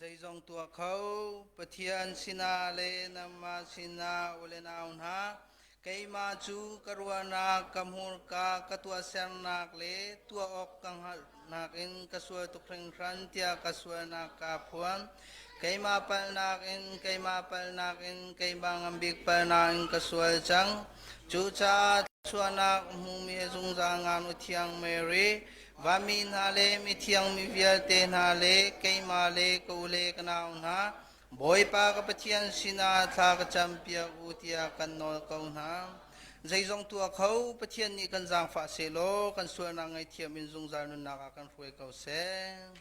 Zeizong tuah kho Pathian sinah le nangmah sinah u le nau hna keimah cu ka ruahnak ka hmurka ka tuahsernak le tuah awk ka hngalhnak in ka sual tuk hringhran tiah ka sualnak kaa phuan. Keimah palnak in keimah palnak in keimah ngambik palnak in ka sual cang. Cucaah thluachuahnak hmumi zungzal ngaknu thiang Mary Vanmi hna le mithiang mi vialte hna le keimah le ka u le ka nau hna, Bawipa ka Pathian sinah thla ka campiak u tiah kan nawl ko hna. Zeizong tuah kho Pathian nih kan zaangfah sehlaw kan sualnak ngaihthiam in zungzal nunnak ah kan hruai ko seh.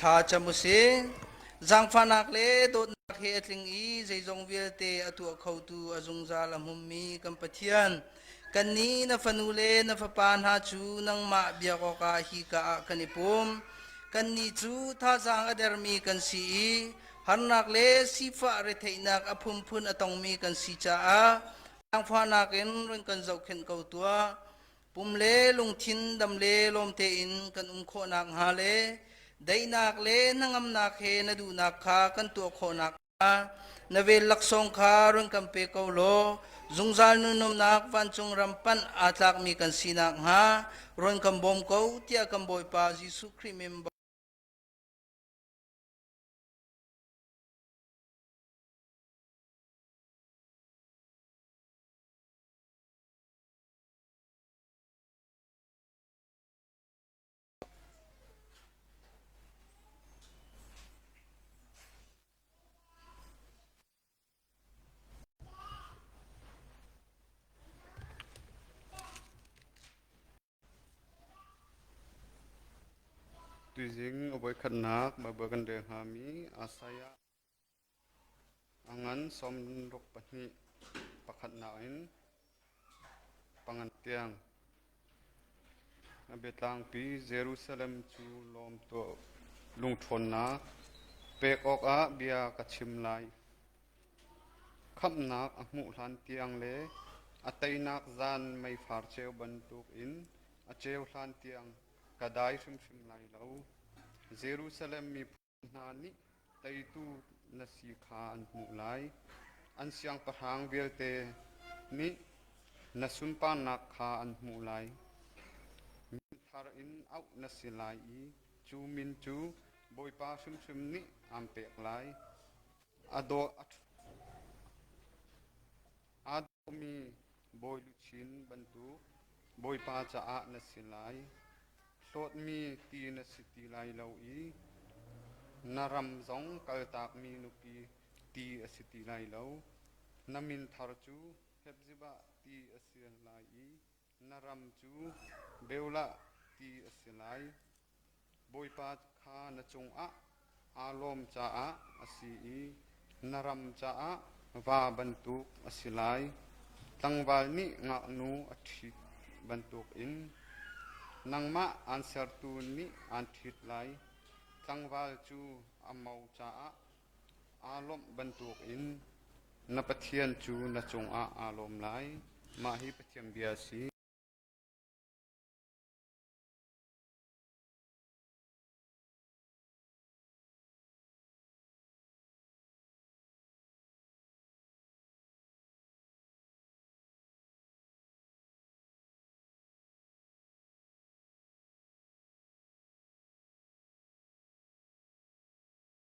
Thla cam u sing. Zangfahnak le dawtnak he a tling i zeizong vialte a tuah khotu a zungzal a hmumi kan Pathian, kan nih na fanu le na fapa hna cu nangmah biak awkah hika ah kan i pum. Kannih cu thazaang a dermi kan si i harnak le sifah retheihnak a phunphun a tongmi kan si caah zangfahnak in run kan zohkhenh ko tuah. Pum le lungthin dam le lawm tein kan um khawhnak hnga le daihnak le hnangamnak he na duhnak kha kan tuah khawhnak hnga na vel laksawng kha run kan pe ko law zungzal nunumnak vancung ram panh aa tlakmi kan sinak hnga run kan bawm ko tiah kan Bawipa Jesuh Khrih min Tuizing a voikhatnak Baibal kan rel hngami Isaiah A ngan sawmruk pahnih pakhatnak in pangan tiang. A biatlangpi Jerusalem cu lawm tuah. Lungṭhawnnak pek awkah bia ka chim lai. Khamhnak a hmuh hlan tiang le a teinak zan meifar ceu bantuk in a ceu hlan tiang ka dai hrimhrim lai lo. Jerusalem miphun hna nih teitu na si kha an hmuh lai, an siangpahrang vialte nih na sunparnak kha an hmuh lai. Mi thar in auh na si lai i cu min cu Bawipa hrimhrim nih aan pek lai. A dawh a mi bawi luchin bantuk Bawipa caah na si lai. Hlawtmi ti na si ti lai lo i na ram zong kaltakmi nupi ti a si ti lai lo. Na min thar cu Hepzibah ti a si lai i Na ram cu Beulah ti a si lai, Bawipa kha na cungah aa lawm caah a si i na ram caah va bantuk a si lai. Tlangval nih ngaknu a ṭhit bantukin nangmah aan sertu nih aan ṭhit lai, tlangval cu a mo caah Aa lawmh bantukin na Pathian cu na cungah aa lawm lai. Mah hi Pathian bia a si.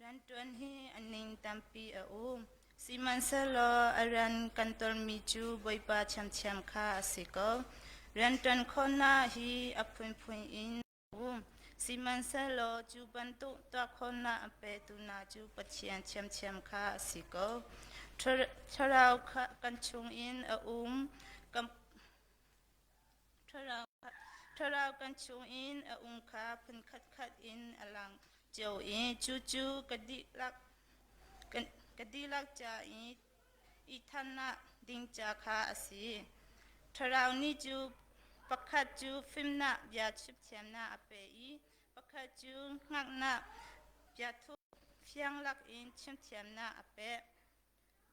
Rianṭuan hi a ning tampi a um, sihmanhsehlaw a rian kan ṭuanmi cu Bawipa ṭhiamṭhiam kha a si ko. Rianṭuan khawhnak hi a phunphun in a um, sihmanhsehlaw cu bantuk tuahkhawhnak a petu hna cu Pathian ṭhiamṭhiam kha a si ko. Thlarau kan chungin a um, Thlarau kan chungin a um kha phun khatkhat in a lang cio i cucu ka dihlak ca i thannak ding ca kha a si. Thlarau nih cu pakhat cu fimnak bia chimthiamnak a pe i pakhat cu hngalhnak biathup fiang lakin chimthiamnak a pek.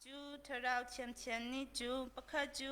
Cu thlarau thiamthiam nih cu pakhat cu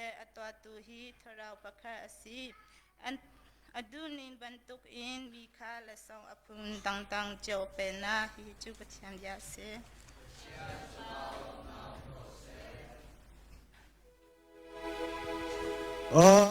a tuahtu hi thlarau pakhat a si. A duhning bantukin mi kha lasong a phundangdang cio pennak hi cu Pathian bia a si. Uh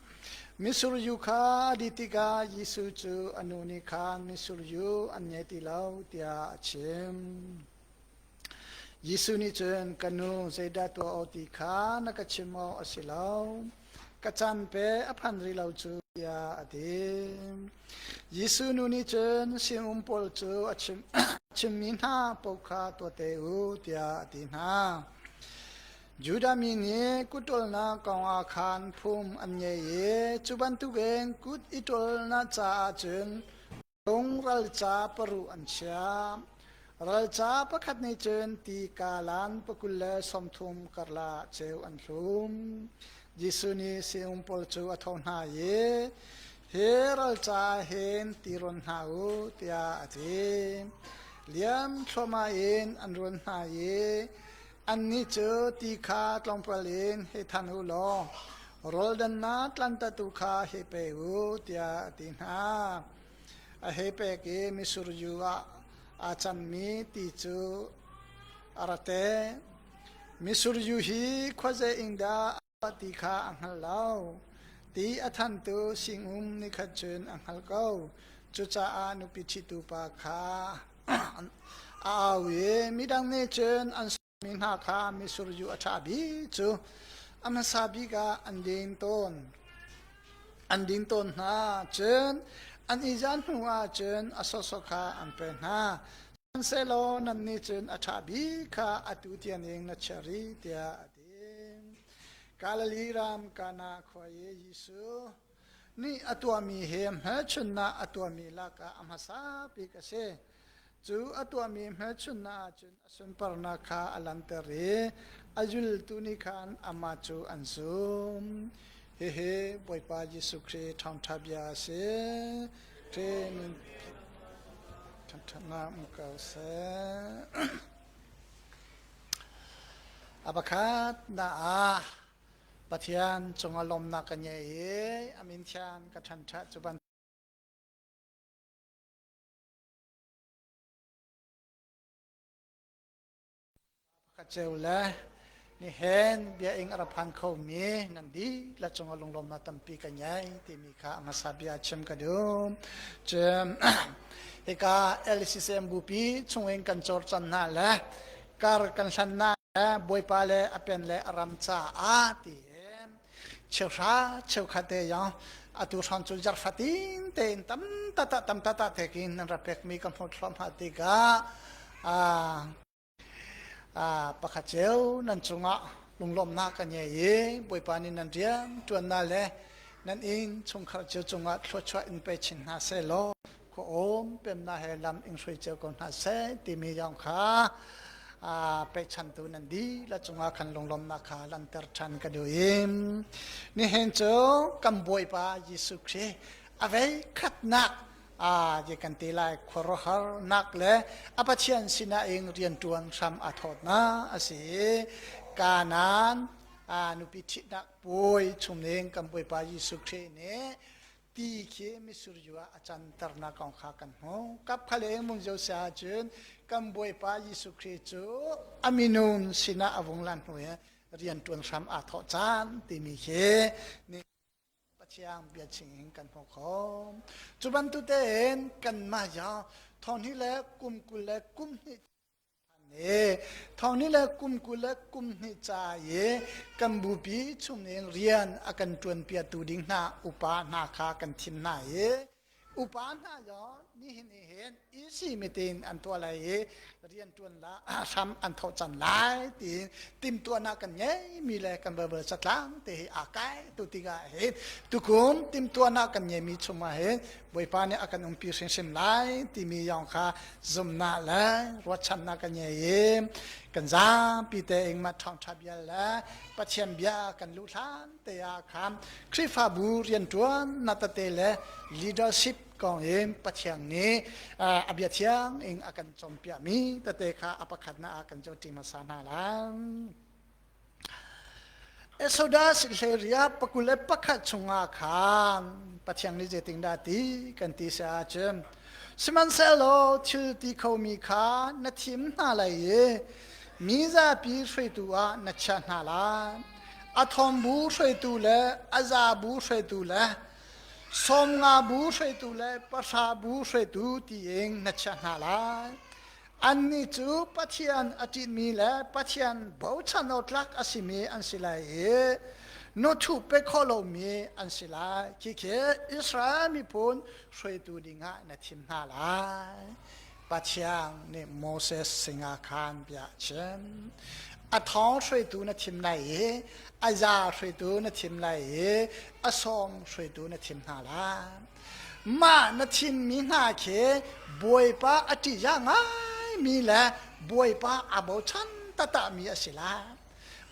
Mitsur yu kha a dih tikah Jesuh cu a nu nih khan mitsur yu an ngei ti lo tiah a chim. Jesuh nih cun ka nu zeidah tuah awk ti kha na ka chim awk a si lo. Ka chan pe a phan rih lo cu tiah a ti. Jesuh nu nih cun sinum pawl cu a chim, chimmi hna paoh kha tuah te u tiah a ti hna. Judah mi nih kut ṭolnak kongah khan phung an ngei i cu bantukin kut i ṭolnak caah cun phung ralca paruh an chiah. Ralca pakhat nih cun ti kalan pakul le sawmthum karlah ceu an hlum. Jesuh nih sinum pawl cu a tho hna i hi ralca hin ti rawn hna u tiah a ti. Liam thluahmah in an run hna i Annih cu ti kha tlawmpal in hei than u law rawldannak tlantattu kha hei pe u, tiah a ti hna. A hei pek i misur yu ah aa canmi ti cu a ra te. Misur yu hi khuazei in dah ti kha a hngal lo. Ti a thantu sinum nikhat cun a hngal ko. Cucaah nupi ṭhitu pa kha a au i midang nih cun an mi hna kha misur yu a ṭha bik cu a hmasa bik ah an ding tawn. An ding tawn hna cun an i zan hnu ah cun a sawsawk kha an pek hna. Shansehlaw nannih cun a ṭha bik kha atu tiang in na chiah rih tiah Galilee ram Kana khua i Jesuh nih a tuahmi hi hmelchunhnak a tuahmi lakah a hmasa bik a si. Cu a tuahmi hmelchunhnak ahcun a sunparnak kha a langhter i a zultu nih khan amah cu an zum. Hihi Bawipa Jesuh Khrih ṭhangṭha bia a si. Khrih nun ṭhangṭhatnak um ko seh. A pakhatnak ah Pathian cungah lawmnak ka ngei i a min thian ka ṭhanṭah cu bantuk pakhat ceu le Nihen biaing a ra phan khomi nan dihlak cungah lunglawmnak tampi kan ngei timi kha a hmasa bia chim ka duh. Cun hika LCCM bupi chungin kan cawrcan hna le kar kan hlan hna le bawipa le a pen le a ram caah tiin cheuhra cheukhatte yang atu hran cu zarfatin tein tam tata tam tata thekin nan ra pekmi ka hmuh thluahmah tikah ah pakhat cio nan cungah lunglawmhnak ka ngei i Bawipa nih nan rian ṭuannak le nan inn chungkhar cio cungah thluachuah in pe chin hna seh law khua um pemnak he lam in hruai cio ko hna seh timi zong kha pechantu nan dihlak cungah khan lunglawmhnak kha lanter ṭhan ka duh im nihin cu kan Bawipa Jesuh Khrih a vei khatnak a je kan te lai khuaruahar nak le a pathian sinah in riantuan hram a thawt na asi kanan a nupi thitnak puai chungning kan puipa Jesuh Khrih nih ti khi misur yu a canter na kong kha kan hmu kap khale mun jo sa chun kan buaipa Jesuh Khrih cu a minun sinah a vung lan hnu he rian tuan hram a thawh chan timi khi Pathian bia chingin kan hmu khom. Cu bantutein kanmah ya thawhni le kum kul le kum hnih i thawhni le kum kul le kum hnih ca i kan bupi chung in rian a kan ṭuanpiatu ding hna upa hna kha kan thim hna i Upa hna zaw nihin i hin EC meeting an tuah lai i riantuan la hram an thohcan lai tiin timtuahnak kan ngeimi le kan balbal satlang te hi aa kai tu tikah hin tukum timtuahnak kan ngeimi chungah hin Bawipa nih a kan umpi hrimhrim lai timi yong kha zumnak le ruatchannak kan ngei i kan zapi te ingma thawngtha bia le Pathian bia kan luh hlan te ah khan Khrihfabu rianṭuan na tate le leadership kong in Pathian nih a bia thiang in a kan cawmpiahmi tate kha a pakhatnak ah kan coṭim hmasa hna lai. Exodus hleria pakul le pakhat chungah khan Pathian nih zeitindah ti kan ti se ahcun sihmanhsehlaw thil ti khomi kha na thim hna lai i mi zapi hruaitu ah na chiah hna lai a thawmbu hruaitu le a zabu hruaitu le sawmnga bu hruaitu le pahra bu hruaitu tiin na chiah hna lai annih cu pathian a ṭihmi le pathian bochan awtlak a simi an si lai i nuthu pe khawh lomi an si lai khikhe Israel miphun hruaitu dingah na thim hna lai Pathian nih Moses sinah khan bia a chim. A thong hruaitu na thim lai i a za hruaitu na thim lai i a sawng hruaitu na thim hna lai. Mah na thimmi hna khi Bawipa a ṭih ngai mi le Bawipa a bochan taktakmi a si lai.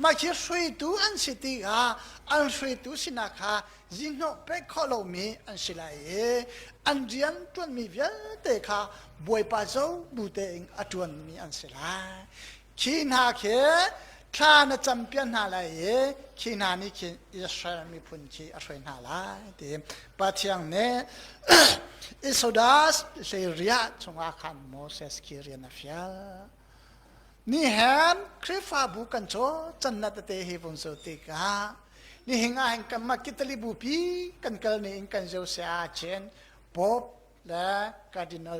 Mah khi hruaitu an si tikah an hruaitu sinak kha zinhnawh pek khawh lomi an si lai i an rian ṭuanmi vialte kha Bawipa co bu tein a ṭuanmi an si lai. Khi hna khi thla na campian hna lai i khi hna nih khin Israel miphun khi a hruai hna lai ti Pathian nih Isodas hleiriah chungah khan Moses khi rian a fial. Nihin Khrihfabu kan cawlcannak tete hi vun cu tikah nihin ah hin kanmah Kitali bupi kan kalning in kan zir saya Chin Pope le Cardinal